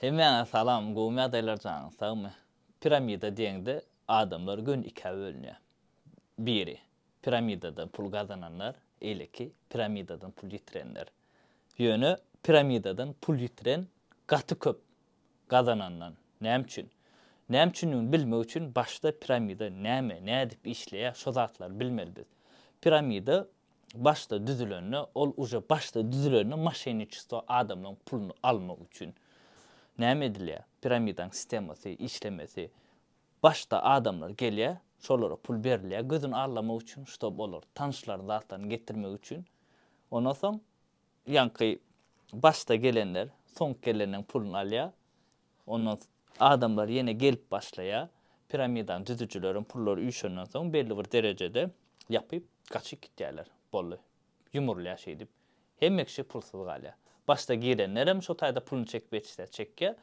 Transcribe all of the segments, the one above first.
Hemmäňe salam gowmy ýagdaýlar janyň sagmy piramida diýeňde adamlar göni ikä bölünýä biri piramidadan pul gazananlar eýleki piramidadan pul ýitirenler ýöne piramidadan pul ýitiren gaty köp gazanandan näme üçin näme üçindigini bilmek üçin başda piramida näme nädip işleýä şo zatlary bilmeli biz piramida başda düzülende ol uje başda düzülende moşenniçestvo adamlaň puluny almak üçin näme edilýär piramidaň sistemasy işlemesi başda adamlar gelýär şolara pul berilýär gözüni allamak üçin ştob olar tanşlaryny zatlaryny getirmek üçin ondan soň ýaňky başda gelenler soň gelenleň puluny alýar Ondan adamlar ýene gelip başlaýar. Piramidany düzüjileriň pullary üýşenden soň belli bir derejede ýapyp, gaçyp gitýärler. Boldy. Ýumurylýar şeýdip. Hemme kişi pulsuz galýar. Başda girenlerem şo taýda puluny çekip ýetişse çekýär.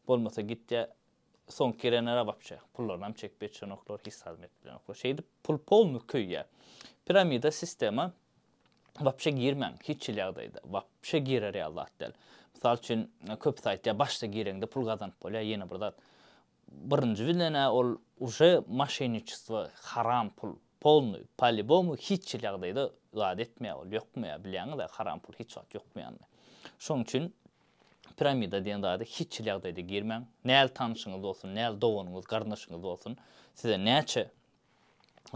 Bolmasa gitýär. Soňky girenler-ä wapşe pullaryny-am çekip ýetişenoklar, hiç zat-am edip bilenoklar. Şeýdip pul polny köýýär. Piramida sistema Wapşe girmäň, hiç hili ýagdaýda. Wapşe girer ýaly zat däl. Mysal üçin, köpüsi aýtýar, başda gireňde pul gazanyp bolýar, ýene bir zat. Birinji bilen-ä ol uje moşenniçestvo, haram pul, polnyý, polibomu hiç hili ýagdaýda zat etmeýär ol, ýokmaýar, bilýäňiz-ä, haram pul hiç wagt ýokmaýanyny. Şonuň üçin piramida diýen zada hiç hili ýagdaýda girmäň. Näl tanşyňyz bolsun, näl doganyňyz, garyndaşyňyz bolsun, size näçe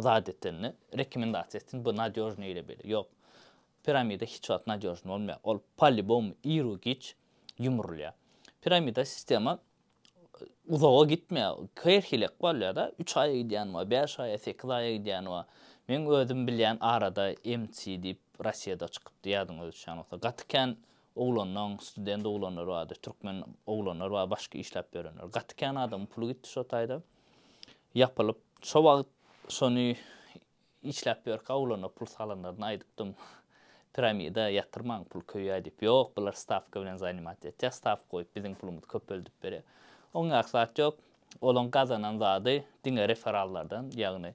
zat etende rekomendasiýa etsin bu nadýožnyý ile bile ýok piramida hiç wagt nadýožnyý bolmaýar ol polibom iru giç ýumrulýar piramida sistema uzaga gitmeýär her hilek bolýada üç aýa gidýäni bar bäş aýa sekiz aýa gidýäni bar meň özüm bilýän arada mc diýip rossiýada çykypdy ýadyňyza düşýän bolsa gaty kän oglanlaň student oglanlar bardy türkmen oglanlar bar başga işläp ýörenler gaty kän adamyň puly gitdi şo taýda. ýapylyp, şo wagt şony işläp ýörkä oglana pul salanlaryna aýdypdym, Piramida ýatyrmaň, pul köýýär diýip. Ýok, bular stawka bilen zanimat etýär, stawka goýup biziň pulumyzy köpeldip berýär. Oňňäki zat ýok. Olaň gazanan zady diňe referallardan, ýagny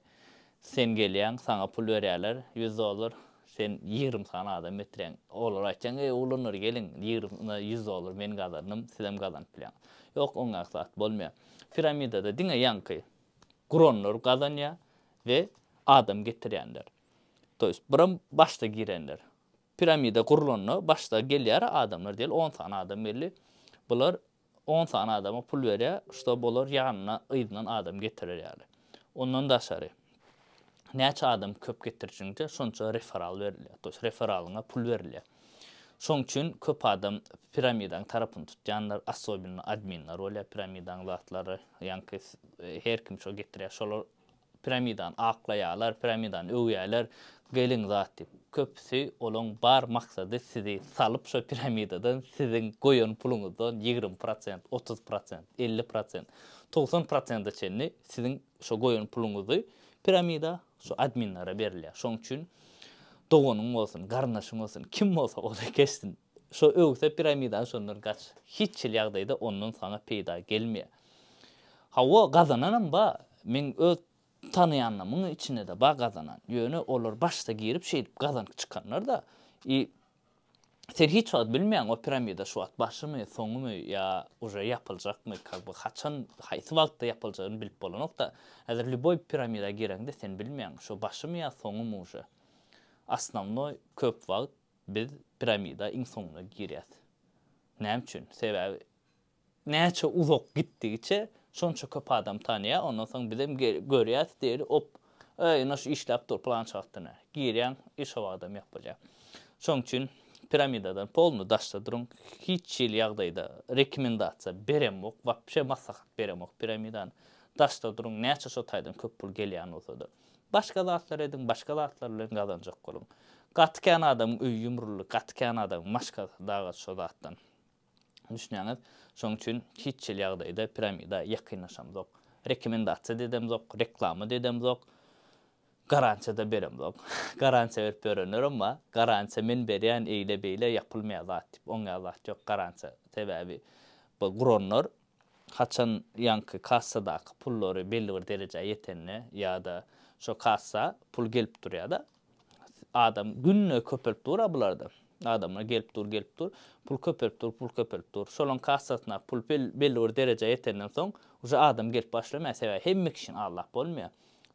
Sen gelýäň, saňa pul berýärler, ýüz dollar, sen ýigrimi sany adam getireň. Olara aýtjaň, eý, oglanlar, geliň, ýigrimi ýüz dollar men gazandym, sizem gazanyp bilýäňiz. Ýok, oňňak zat bolmaýar. Piramidada diňe ýaňky guranlar gazanýar we adam getirýänler. To ýest, buram başda girenler. Piramida gurlanda başda gelýär adamlar diýeli, on sany adam geldi. Bular On sany adama pul berýär, ştob olar ýanyna yzyndan adam getirer ýaly. Ondan daşary, näçe adam köp getirjiňde, şonça referal berilýär, to ýest referalyňa pul berilýär. Şoň üçin köp adam piramidaň tarapyny tutýanlar, assobinno adminler bolýar piramidaň zatlary, ýaňky her kim şo getirýär, şolar Piramidany aklaýarlar, piramidany öwýärler, geliň zat diýip. Köpüsi olaň bar maksady sizi salyp şo piramidadan siziň goýan puluňyzdan ýigrimi prosent, otuz prosent, elli prosent, togsan prosente çenli siziň şo goýan puluňyzy piramida şo adminlere berilýär. Şoň üçin doganyň bolsun, garyndaşyň bolsun, kim bolsa ola geçsin. Şo öwse piramidany şondan gaç. Hiç hili ýagdaýda ondan saňa peýda gelmeýär. Hawa, gazananam bar. Meň öz tanaýanlarymyň içinde-de bar gazanan. Ýöne olar başda girip şeýdip gazanyp çykanlar-da. I sen hiç wagt bilmeýäň o piramida şu wagt başymy, soňumy ýa uje ýapyljakmy, ka bu haçan, haýsy wagtda ýapyljagyny bilip bolanok-da. Häzir lýuboý piramida gireňde sen bilmeýäň, şo başymy ýa soňumy uje. Osnownoý köp wagt Biz piramida iň soňuna girýäs. Näme üçin? Sebäbi näçe uzak gitdigiçe şonça köp adam tanýar, ondan soň bizem görýäs diýeli op, öý ine şu işläp dur pylança wagtdan ä. Girýäň i şo wagtam ýok bolýar. Şoň üçin piramidadan polny daşda duruň. Hiç hili ýagdaýda rekomendasiýa beremok, wapşe maslahat beremok piramidany. Daşda duruň näçe şo taýdan köp pul gelýän bolsada. Başga zatlar ediň, başga zatlar bilen gazanjak boluň. Gaty kän adamyň öýi ýumruldy, gaty kän adamyň maşgalasy daga şo zatdan. Düşünýäňiz? Şonuň üçin hiç hili ýagdaýda piramida ýakynlaşamzok. Rekomendasiýa-da edemzok, reklama-da edemzok, garansiýa-da beremzok. Garansiýa berip ýörenlerem bar. Garansiýa men berýän, eýle-beýle, ýapylmaýar zat diýip, oňýar zat ýok garansiýa. Sebäbi bu guranlar Haçan ýaňky kassadaky pullary belli bir derejä ýetende ýa-da şo kassa pul gelip durýar-da, adam günde köpelip dur-a bularda. Adamlar gelip dur, gelip dur. Pul köpelip dur, pul köpelip dur. Şolaryň kassasyndaky pul belli bir derejä ýetenden soň uje adam gelip başlamaýar. Sebäbi hemme kişini aldap bolmaýar.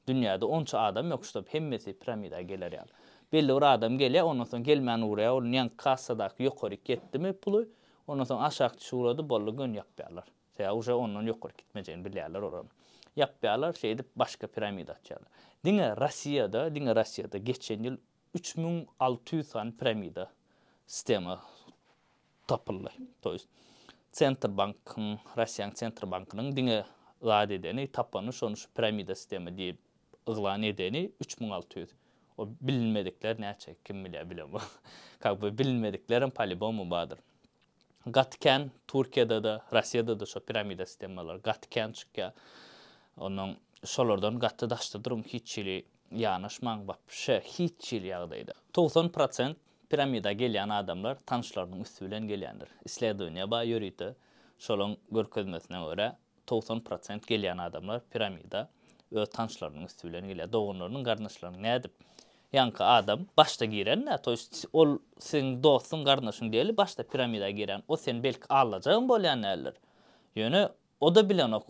Dünýäde onça adam ýok, ştob hemmesi piramida geler ýaly. Belli bir adam gelýär, ondan soň gelmän urýar, onuň ýaňky kassadaky ýokaryk ýetdimi puly, Ondan soň aşak düşüp uradyp boldy göni ýapýarlar. Sebäbi uje ondan ýokary gitmejegini bilýärler olaryň. Ýapýarlar şeýdip başga piramida açýarlar. Diňe Rossiýada, diňe Rossiýada geçen ýyl üç müň alty ýüz sany piramida sistema tapyldy. To ýest Sentrbankyň, Rossiýanyň Sentrbankynyň diňe zat edeni, tapany şony şu piramida sistema diýip yglan edeni üç müň alty ýüz. O bilinmedikler näçe, kim bilýär, bilemok. Kak be, bilinmediklerem palibomu bardyr. Gaty kän Türkiýede-de, Rossiýada-da şo piramida sistemalary gaty kän çykýar. Onnoň şolardan gaty daşda duruň, hiç hili ýanaşmaň, wapşe hiç hili ýagdaýda. Togsan prosent piramida gelýän adamlar tanyşlarynyň üsti bilen gelýändir. Isledowaniýa bar ýörite, şolaň görkezmesine görä, Togsan prosent gelýän adamlar piramida öz tanşlarynyň üsti bilen gelýär, doganlarynyň, garyndaşlarynyň nädip? Ýaňky adam başda girende, to ýest ol seň dostuň, garyndaşyň däli, başda piramida girýän o sen belki allajagam bolýan däldir. Ýöne oda bilenok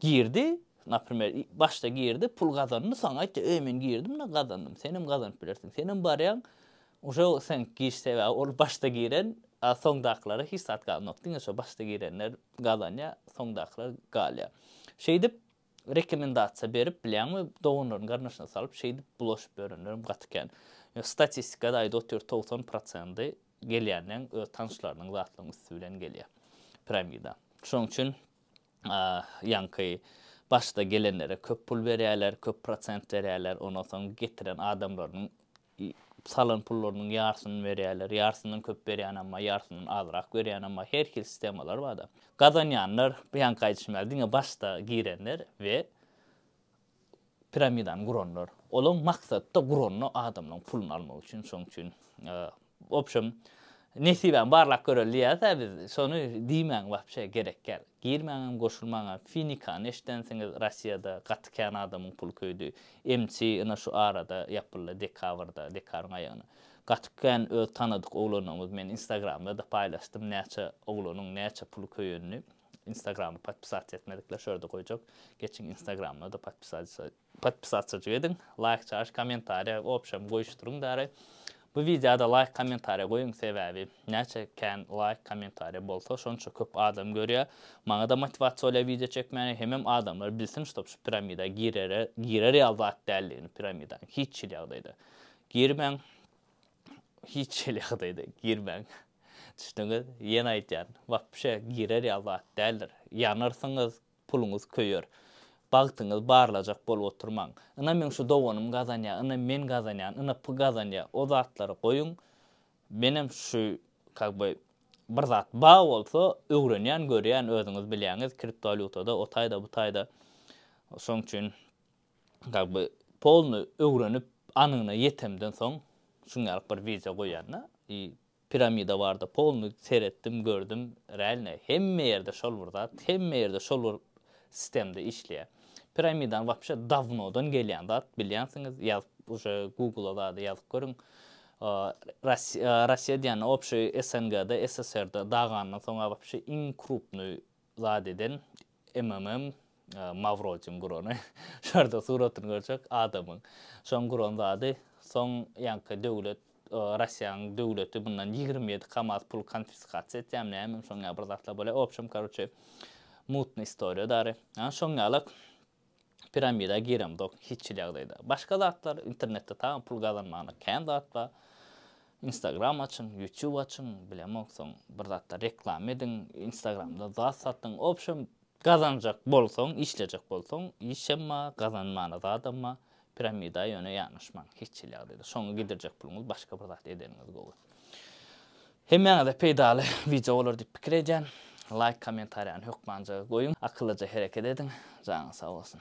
girdi, naprimer başda girdi, pul gazandy, soň aýtdy, eý men girdim-de gazandym, senem gazanyp bilersiň, senem barýaň, Uje seň giş sebäbi ol başda giren a soňdakylara hiç zat galmok diňe şo başda girenler gazanýa soňdakylar galýa şeýdip rekomendasiýa berip bilýäňmi doganlaryny garnyşyna salyp şeýdip bulaşyp ýörenlerem gaty kän ýa statistikada aýda otyr togsan prosendi gelýänleň öz tanşlarynyň zatlaryň üsti bilen gelýa piramida şoň üçin a ýaňky başda gelenlere köp pul berýäler köp prosent berýäler ondan soň getiren adamlarynyň salan pullarynyň ýarsyny berýärler, ýarsyndan köp berýänem bar, ýarsyndan azrak berýänem bar, her hil sistemalar bar-da. Gazanýanlar, bu ýaňky aýdyşym ýaly, diňe başda girenler we piramidany guranlar. Olaň maksady-da guranda adamlaryň puluny almak üçin, şonuň üçin, obşem, Nesibäň barlap göreli diýýäs-ä biz, şony diýmäň wapşe gerekgäl. Girmäňem goşulmaňa, finikany eşidensiňiz Rossiýada gaty kän adamyň puly köýdi. MC ýna şu arada ýapyldy dekabrda, dekaryň aýagyna. Gaty kän öz tanadyk oglanlarymyz men instagramda-da paýlaşdym näçe oglanyň näçe puly köýenini. Instagramy podpisat etmedikler şu ýerde goýjak. Geçiň instagramyna-da podpisat Podpisatçajyk ediň, laýk çaş, kommentariýa obşam goýuşdyryň bäri. Bu wideoda laýk kommentariýa goýuň sebäbi näçe kän laýk kommentariýa bolsa şonça köp adam görýä. Maňada motiwasiýa bolýa wideo çekmäne hemem adamlar bilsin ştob şu piramida girere girer ýaly zat däldigini piramidaň hiç hil ýagdaýda girmäň hiç hil ýagdaýda girmäň düşdüňiz ýene aýtýan wapşe girer ýaly zat däldir ýanarsyňyz puluňyz köýer. Bagtyňyzy barlajak bolup oturmaň. Ynha meň şu doganym gazanýar, ynha men gazanýan, ynha py gazanýar. O zatlary goýuň. Menem şu kak by bir zat bar bolsa öwrenýän, görýän özüňiz bilýäňiz kriptowalýutada o taýda bu taýda. Şoň üçin kak by polny öwrenip anygyna ýetemden soň şuňňalyk bir wideo goýýan-da. I Piramida barda polny seretdim gördüm realne hemme ýerde şol bir zat hemme ýerde şol bir sistemde işleýä piramidany wapşe dawnodan gelýän zat bilýänsiňiz ýazyp uje gugla zady ýazyp görüň Rasiýa diýende obşeý SNGda SSRda dagandan soňa wapşe iň krupnyý Zat eden MMM Mawroçyň gurany. Şurada suratyny görjek adamyň. Şoň guran zady soň ýaňky döwlet Rossiýanyň döwleti mundan ýigrimi ýedi kamaz pul konfiskasiýa etýämi nämemi şoň ýaly bir zatlar bolýa obşem karuçe mutnyý istoriýa dary. Şoň ýaly Piramida giremzok hiçhili ýagdaýda. Başga zatlar internetde taýyn pul gazanmagyna kän zat bar. Instagram açyň, YouTube açyň, bilemok soň bir zatlar reklama ediň, Instagramda zat satyň. Wobşem gazanjak bolsaň, işlejek bolsaň, işem bar, gazanmana zadam bar. Piramida ýöne ýanaşmaň hiç hili ýagdaýda. Şoňa gidirjek puluňyz başga bir zat edeniňiz gowy. Hemmäňize peýdaly wideo bolar diýip pikir edýän. Laýk, kommentariýany hökman jagy goýuň. Akyllyja hereket ediň. Janyňyz sag bolsun.